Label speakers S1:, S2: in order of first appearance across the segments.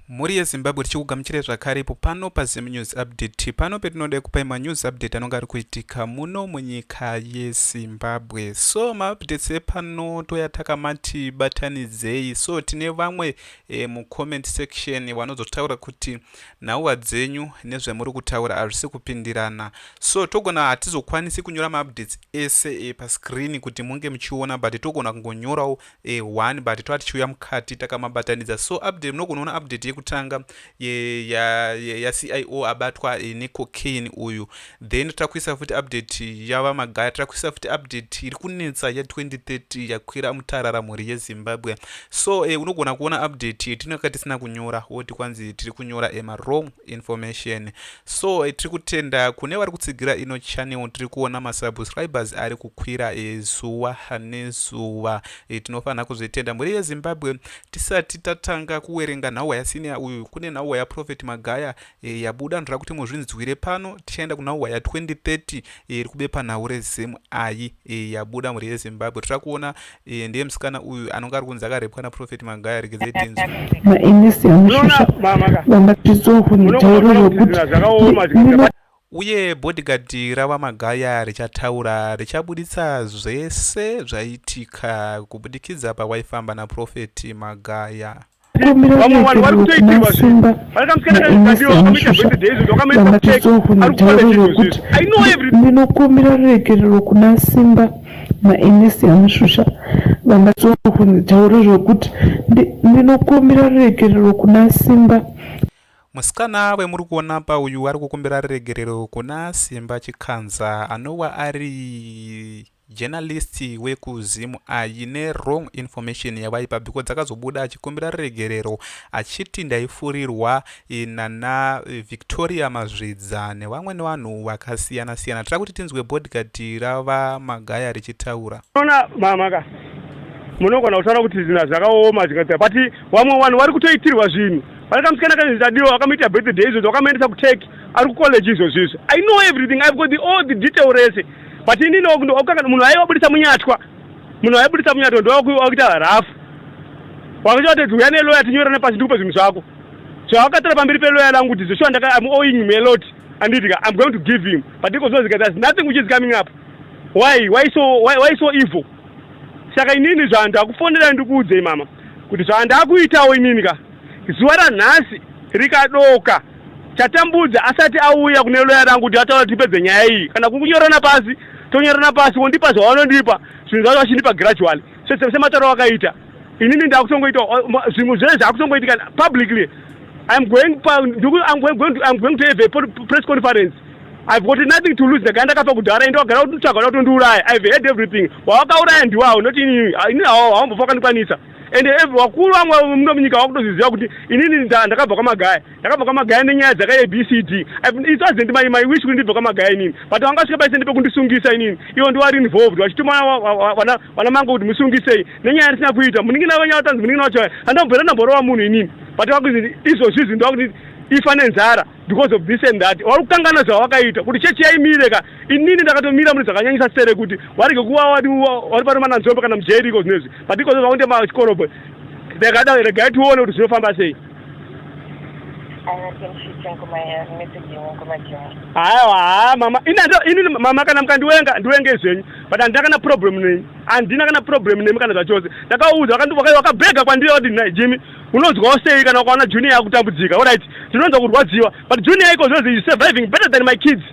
S1: Mhuri yeZimbabwe tichikugamuchirai zvakare ipo pano paZim News Update pano petinoda kupai manews update anonga ari kuitika muno munyika yeZimbabwe so maupdates epano toya takamati batanidzei so tine vamwe e, mucomment section vanozotaura kuti nhauwa dzenyu nezvemuri kutaura hazvisi kupindirana so togona hatizokwanisi kunyora maupdates ese e, pascreen kuti munge muchiona but togona kungonyorawo eh, one but tova tichiuya mukati takamabatanidza so update munogona kuona update yekutanga yacio ya, ya abatwa eh, necocaine uyu then takuisa futi update yava magaya takuisa futi update iri kunetsa ya2030 yakwira mutarara mhuri yezimbabwe so eh, unogona kuona update yetinaka tisina kunyora woti kwanzi tiri kunyora emawrong eh, information So tiri kutenda kune vari kutsigira ino channel tiri kuona masubscribers ari kukwira zuva nezuva. Tinofanira kuzvitenda mhuri yeZimbabwe. Tisati tatanga kuwerenga nhauwa yasiniya uyu kune nhauwa yaProphet Magaya e, yabuda ndoda kuti muzvinzwire pano. Tichaenda kunhauwa ya2030 e, iri kubepa nhau reZim ayi e, yabuda mhuri yeZimbabwe. Tira kuona Iye ndiye msikana uyu anonga ari kunzi akarepwa na Prophet Magaya regedzai denzo. Mainesi amushusha vanga tizohu mitauro rokuti nina Uye bodyguard rava Magaya richataura richabuditsa zvese zvaitika kubudikidza pawaifamba na Prophet Magaya. vamwe vanhu vari kutoitirwa zvinhu vari kamusikana kazvigadiwa vakamuita
S2: birthday izvozvo vakamuita kucheki ari kutaura zvinhu izvizvi i know everything ndinokumbira ruregerero kuna simba mainesi amushusha vangatsoa kunitauro zvokuti ndinokumbira ruregerero kuna simba musikana
S1: wemuri kuona pa uyu ari kukumbira ruregerero kuna simba chikanza anowa ari journalist wekuzim aine wrong information yavaipa because dzakazobuda achikumbira ruregerero achiti ndaifurirwa eh, nana eh, victoria mazvidza nevamweni vanhu vakasiyana siyana tira kuti tinzwe bodgard rava magaya richitaura ona mamaka
S3: munogona kutaura kuti zina zvakaoma zvikaita pati vamwe vanhu vari kutoitirwa zvinhu pane kamusikana kazvitadiwa vakamuita birthday izvozvo vakamaendesa kutech ari kucollege izvozvo izvo i know everything ive got the all the detail rese but ini ndokanga munhu aiva budisa munyatwa munhu aibudisa munyatwa ndowakuita rafu wakuchawatedzi uya neloya tinyorane pasi ndikupa zvinhu zvako so akatora pamberi peloya langu kuti zveshuwa ndaka am owing him a lot anditika i'm going to give him but ikozozika there's nothing which is coming up why why so why, why so evil saka inini zvandakufonera ndikuudzei mama kuti zvandakuitawo inini ka zuva ranhasi rikadoka Chatambudza asati auya kune loya rangu kuti ataura tipedze nyaya iyi kana kunyorana pasi tonyorana pasi wondipa zvawanondipa zvinhu zvacho vachindipa gradually semataro wakaita inini ndakutongoita zvimhu zvese zvakutongoitika publicly I'm going, I'm going, to, I'm going to have a press conference. I've got nothing to lose. Ndagara ndakafa kudhara ende wagara kutsvaga kuti undiuraye. I've heard everything. Wawakauraya ndiwawo not ini. Ini hawo haumbofa kandikwanisa. and ev vakuru vamwe muno munyika vakutozviziva kuti inini ndakabva kwamagaya ndakabva kwamagaya nenyaya dzakaye bcd isu azendi mai mai wish kuti ndibva kwamagaya inini but vangasvika paise ndepekundisungisa inini ivo ndivari involved vachituma vana mango kuti musungisei nenyaya yatisina kuita munin'ina venyu vatanzi munin'ina wacho handambvera ndamborova munhu inini but vakuti izvozvizvi ndovakuti ifa nenzara because of this and that vari kukangana zvavakaita kuti chechi yaimire ka inini ndakatomira mune zvakanyanyisa sere kuti warege kuva wadi wari pano mananzombe kana mujeri iko zvinezvi but iko zvaunde machikorobwe ndakada regai tione kuti zvinofamba sei haiwa haa mama inini mama kana mukandiwenga ndiwenge zvenyu but handina kana problem nemi handina kana problem nemi kana zvachose ndakauudza wakabhega kwandiri wati nhai jimi unonzwawo sei kana ukaona junior yakutambudzika orit tinonzwa kurwadziwa but junior iko zvozi surviving better than my kids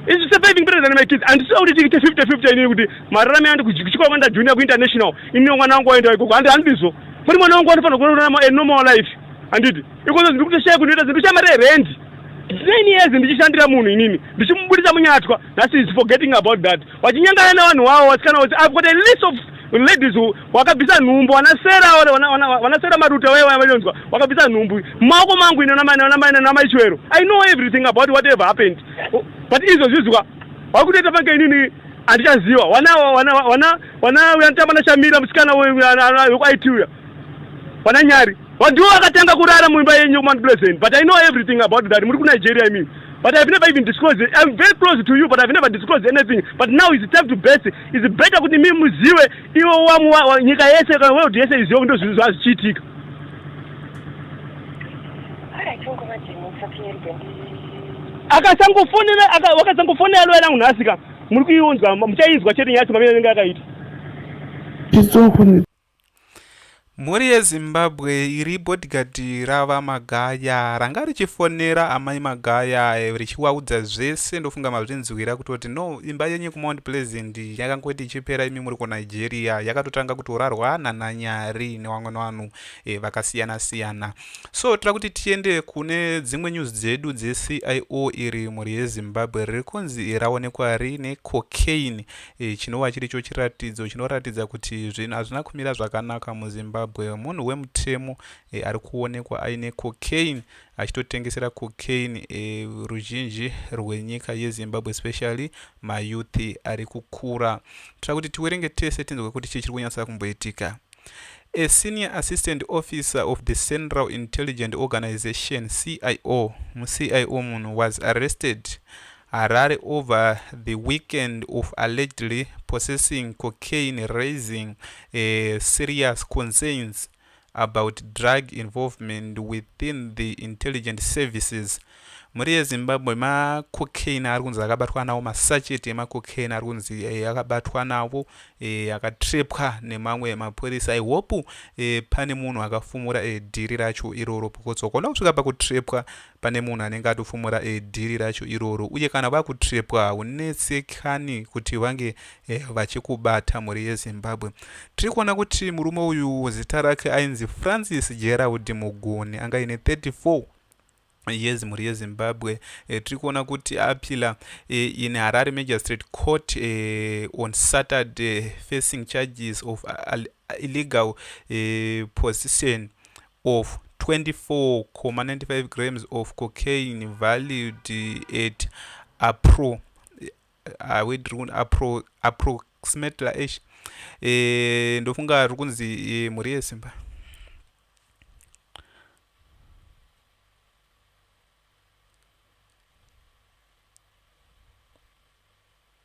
S3: Is surviving better than my kids. And so kuti tiite 50 50 inini kuti mararame andi kuchikoro kwanda junior ku international. Inini mwana wangu waenda ikoko. Handi handizvo. Muri mwana wangu anofanira kurarama a normal life. Handiti. Ikozo ndiri kutoshaya kunoita zvinhu shamare rent. Nine years ndichishandira munhu inini. Ndichimubudisa munyatwa. That is forgetting about that. wachinyangana nevanhu wavo wasikana wose i've got a list of ladies wakabvisa nhumbu wanasera wanasera maruta waye vanonzwa wakabvisa nhumbu mumaoko mangu ine namaichwero i know everything about whatever happened but izvo zvizwa wakutoita pange inini handichaziva wana wana wana wana uyanotamba nashamira musikana wekuaiti uya Pana Nyari. Wandiwo akatanga kurara muimba yenyu Mount Pleasant, but I know everything about that. Muri ku Nigeria I mean. But I've never even disclosed it. I'm very close to you, but I've never disclosed anything. But now it's time to best. It's better kuti mimi muziwe iwe wamu wa, wa, nyika yese kana world yese iziwe kuti ndozvinhu zvazichiitika. Akasangofonera aka, wakasangofonera loya langu nhasi ka muri kuiunzwa muchainzwa chete nyaya chomamene anenge akaita. It's all
S1: Mhuri yeZimbabwe iri bodyguard raVa Magaya ranga richifonera amai Magaya richivaudza zvese ndofunga mazvinzwira kutoti no imba yenyu kuMount Pleasant yakangoti ichipera imi muri kuNigeria yakatotanga kutorarwa nananyari nevamwe vanhu e, vakasiyana siyana so tira kuti tiende kune dzimwe news dzedu dzeCIO iri mhuri yeZimbabwe riri kunzi raonekwa rine cocaine e, chinova chiri cho chiratidzo chinoratidza kuti zvinhu hazvina kumira zvakanaka muzimbabwe munhu wemutemo e, ari kuonekwa aine cocaine achitotengesera cocaine e, ruzhinji rwenyika yezimbabwe especially mayouth ari kukura tira kuti tiwerenge tese tinzwe kuti chii chiri kunyatsa kumboitika a senior assistant officer of the central intelligent organization cio mucio munhu was arrested Harare over the weekend of allegedly possessing cocaine raising uh, serious concerns about drug involvement within the intelligent services mhuri yezimbabwe macocaine ari kunzi akabatwa nawo masacheti emacocaine ari kunzi eh, akabatwa navo eh, akatrepwa nemamwe mapurisa ihope eh, pane munhu akafumura dhiri racho iroro because wakaona kusvika pakutrepwa pane munhu anenge atofumura e, dhiri racho iroro uye kana vakutrepwa haunetsekani kuti vange e, vachikubata mhuri yezimbabwe tiri kuona kuti murume uyu zita rake ainzi francis gerald mugoni anga ine 34 years mhuri yezimbabwe e, tiri kuona kuti apila e, in harare magistrate court e, on saturday facing charges of illegal e, position of 24,95 grams of cocaine valued at appro uh, we drone appro approximately eish eh, ndofunga riri kunzi eh, mhuri yesimba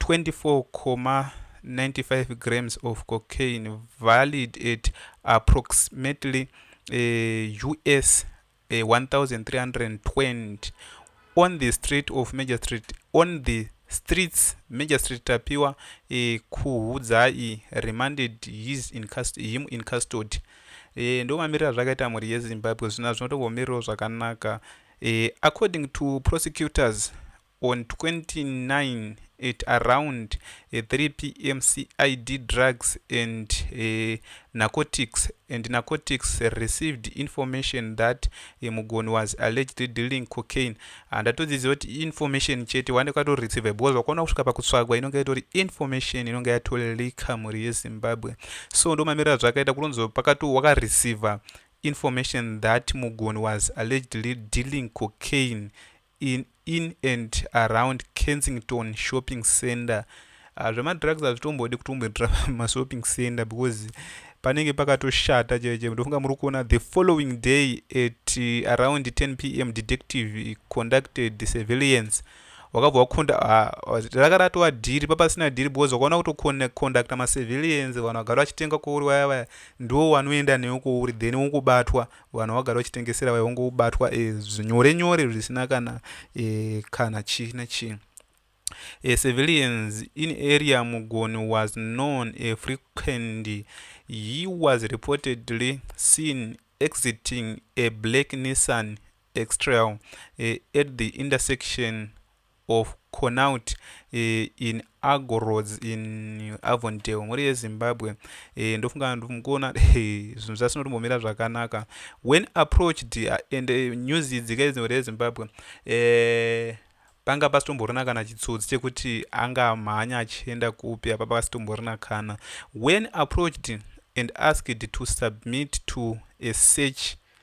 S1: 24.95 grams of cocaine valued at approximately uh, us uh, 1320 on the street of major street on the streets major street tapiwa uh, kuhudzai remanded his in him in custody e, ndo mamirira zvakaita mhuri yezimbabwe zvina zvinotovomiriro zvakanaka e, according to prosecutors On 29 at around 3 eh, pm CID drugs and uh, narcotics and narcotics received information that uh, Mugoni was allegedly dealing cocaine. Handatodzidzisa ah, kuti information chete wande kwato receive because wakaona kusvika pakutsvagwa inonge itori information inonge yatolika mhuri yeZimbabwe. So ndomamirira zvakaita kunonzi pakati wakareceiver information that Mugoni was allegedly dealing cocaine in, in and around kensington shopping center uh, zvemadrugs hazvitombodi kutomboitira mashopping center because panenge pakatoshata chaiche ndofunga muri kuona the following day at uh, around 10 p m detective conducted surveillance wakabva wakonda raka ratova dhiri papasina dhiri because wakaona kutokondakta masurveillance vanhu vagara vachitenga kwouri vaya vaya ndiwo wanoenda newe kwouri then wokubatwa Vanhu vagara vachitengesera vaiva ngobatwa e, eh, zvinyore nyore zvisina kana e, kana chi nechi. A civilians in area Mugoni was known a frequent. He was reportedly seen exiting a black Nissan X-Trail uh, at the intersection of Connaught in Argo Roads in Avondale mhuri yeZimbabwe eh, ndofunga ndikuona zvinhu zvasinotombomira zvakanaka when approached and eh, news idzi kaidzi mhuri yeZimbabwe eh, panga pasitomborina kana chitsotsi chekuti anga mhanya achienda kupi apa pasitomborina kana when approached and asked to submit to a search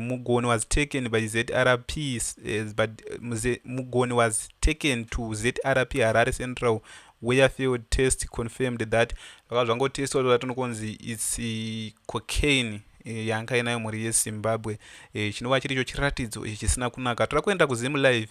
S1: Mugoni was taken by zrp eh, but eh, Mugoni was taken to zrp harare central where field test confirmed that zvakava zvangotestwa zvoda tinokonzi its eh, cocaine yanga inayo mhuri yezimbabwe chinova chiri icho chiratidzo ichi chisina kunaka toda kuenda kuzim live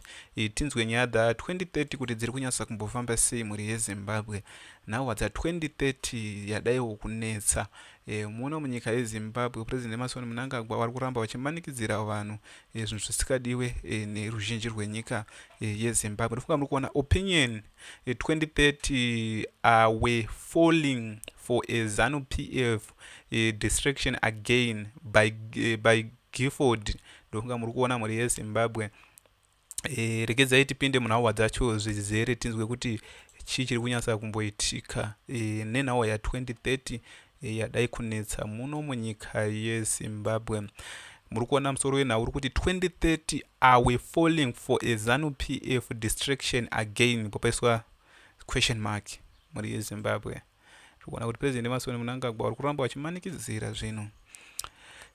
S1: tinzwe nyaya dza 2030 kuti dziri kunyatsa kumbofamba sei mhuri yezimbabwe now dza 2030 yadaiwo kunetsa Eh, muno munyika yezimbabwe president emarson munangagwa vari kuramba vachimanikidzira vanhu eh, zvinhu zvisikadiwe eh, neruzhinji rwenyika yezimbabwe ndofunga muri kuona opinion 2030 awe falling for a zanu pf distraction again by, by gifford ndofunga muri kuona mhuri yezimbabwe e, regedzai tipinde munhauwa dzacho zvizere tinzwe kuti chii chiri kunyatsa kumboitika e, nenhauwa ya2030 e, yadai kunetsa muno munyika yezimbabwe muri kuona musoro wenhau uri kuti 2030 are we falling for a zanu p f distraction again popaiswa question mark mhuri yezimbabwe tikuona kuti president emasoni munangagwa vari kuramba vachimanikidzira zvinhu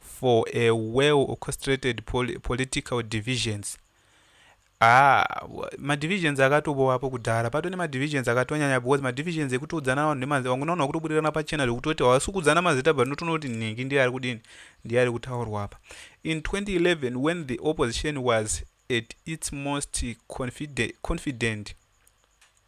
S1: for a well orchestrated political divisions ah madivisions akatobowapo kudhara pato nemadivisions akatonyanya because madivisions ekutoudzana vanhu nemazita vangu naona kuti kubudirana pachena zvekutoti hawasi kuudzana mazita but unotoona kuti nhingi ndiye ari kudini ndiye ari kutaurwa apa in 2011 when the opposition was at its most confident, confident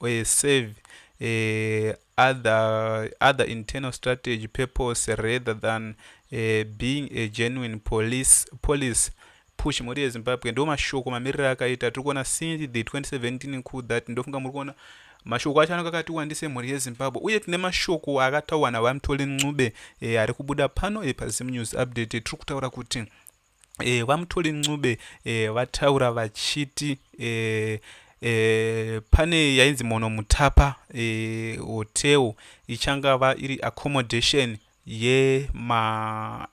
S1: or serve a other, other internal strategy purpose rather than a being a genuine police, police push mhuri yezimbabwe ndo mashoko mamiriro akaita tiri kuona since the 2017 coup that ndofunga muri kuona mashoko acho anenge akati wandise mhuri yezimbabwe uye tine mashoko akataurwa navamtoli ncube e, ari kubuda pano e, pazimu news update tiri kutaura kuti e, VaMuthuli Ncube e, vataura vachiti e, e, pane yainzi Mono Mutapa e, hotel ichangava iri accommodation yemaMPs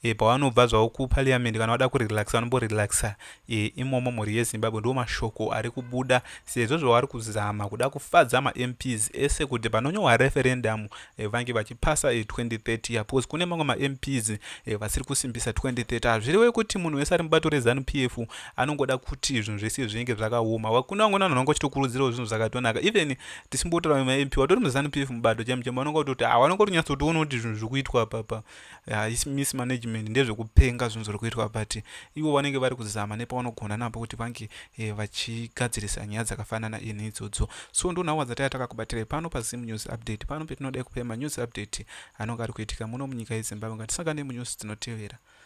S1: e, eh, pavanobva zvavo kupariamende kana vada kurelaxa vanomborelaxa e, eh, imomo mhuri yezimbabwe ndo mashoko ari kubuda sezvo zvavari kuzama kuda kufadza mamps ese kuti panonyohwa referendamu eh, vange vachipasa eh, 2030 ya because kune mamwe mamps eh, vasiri kusimbisa 2030 hazvirewe kuti munhu wese ari mubato rezanu p f anongoda kuti zvinhu zvese zvinenge zvakaoma wakune vamwe vanhu vanga vachitokurudzirawo zvinhu zvakatonaka even tisimbotaura mamp watori muzanu p f mubato chaimo chaimo vanonga kutoti ah, vanonga kunyatsotiona kuti zvinhu zviri kuitwa papa haisi uh, mismanagement ndezvekupenga zvinhu zviri kuitwa but ivo vanenge vari kuzama nepavanogona napo kuti vange eh, vachigadzirisa nyaya dzakafanana ini idzodzo so ndonhawa dzataya takakubatirai pano pazim news update pano petinodai kupai manews update anonge ari kuitika muno munyika yezimbabwe ngatisangane munews dzinotevera